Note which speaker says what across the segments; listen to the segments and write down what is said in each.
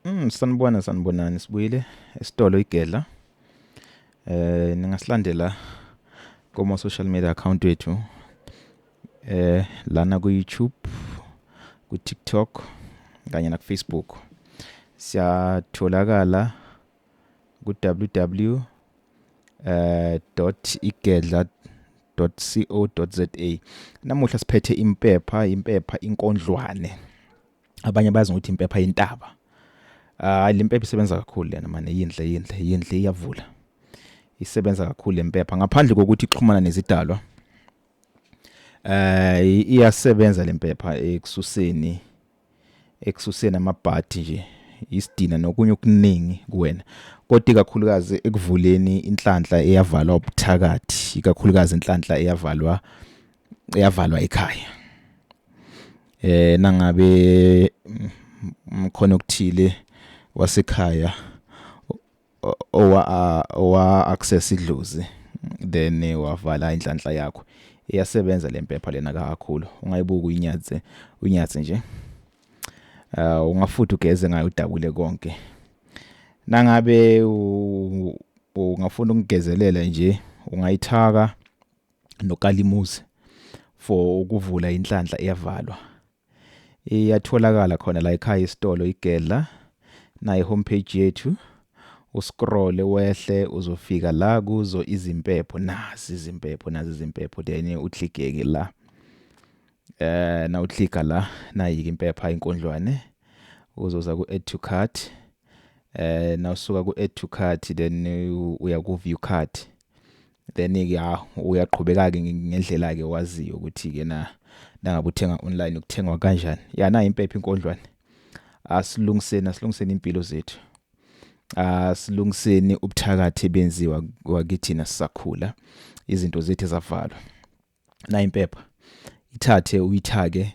Speaker 1: Mm, sanibona sanibonani sibuyile esitolo igedla. Eh ningasilandela kuma social media account wethu. Eh lana ku YouTube, ku TikTok kanye na ku Facebook. Siyatholakala ku www eh dot igedla .co.za namuhla siphethe impepha impepha inkondlwane abanye bazi ukuthi impepha yintaba hayi le mpepha isebenza kakhulu lena mane yinhle yinhle yinhle iyavula isebenza kakhulu le mpepha ngaphandle kokuthi ixhumana nezidalwa eh iyasebenza le mpepha ekususeni ekususeni amabhathi nje isidina nokunye okuningi kuwena kodwa ikakhulukazi ekuvuleni inhlanhla eyavalwa ubuthakathi ikakhulukazi inhlanhla eyavalwa iyavalwa ekhaya eh nangabe mkhona okuthile wasekhaya owa owa access idlozi then wavala inhlanhla yakho iyasebenza lempepha lena kakhulu ungayibuka uyinyathe unyathe nje uh ungafuthi ugeze ngayo udabule konke nangabe ungafuna ukungezelela nje ungayithaka nokalimuzi for ukuvula inhlanhla eyavalwa iyatholakala khona la ekhaya isitolo igedla naye homepage yethu uscroll wehle uzofika la kuzo izimpepho nazi izimpepho nazi izimpepho then uthligeke la eh na uthliga la nayike impepha inkondlwane uzoza ku add to cart eh na usuka ku add to cart then uya ku view cart then ke ya uyaqhubeka ke ngendlela ke waziyo ukuthi ke na nangabe uthenga online ukuthengwa kanjani ya na impepha inkondlwane asilungiseni asilungiseni impilo zethu asilungiseni ubuthakathi benziwa wakithina sisakhula izinto zethu zavalwa na impepha ithathe uyithake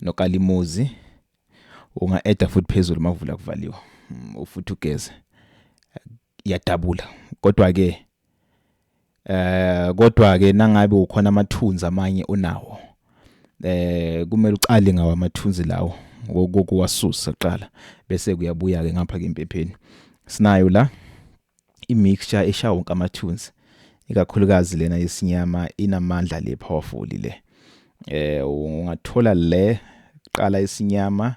Speaker 1: nokalimuzi unga-eda futhi phezulu mavula kuvaliwa mm, futhi ugeze iyadabula kodwa ke eh kodwa ke nangabe ukhona amathunzi amanye onawo eh kumele uqale ngawo amathunzi lawo kokuwasusa kuqala bese kuyabuya ke ngapha ke impepheni sinayo la imixture eshawa wonke amathunzi ikakhulukazi lena yesinyama inamandla le powerful le eh ungathola le qala isinyama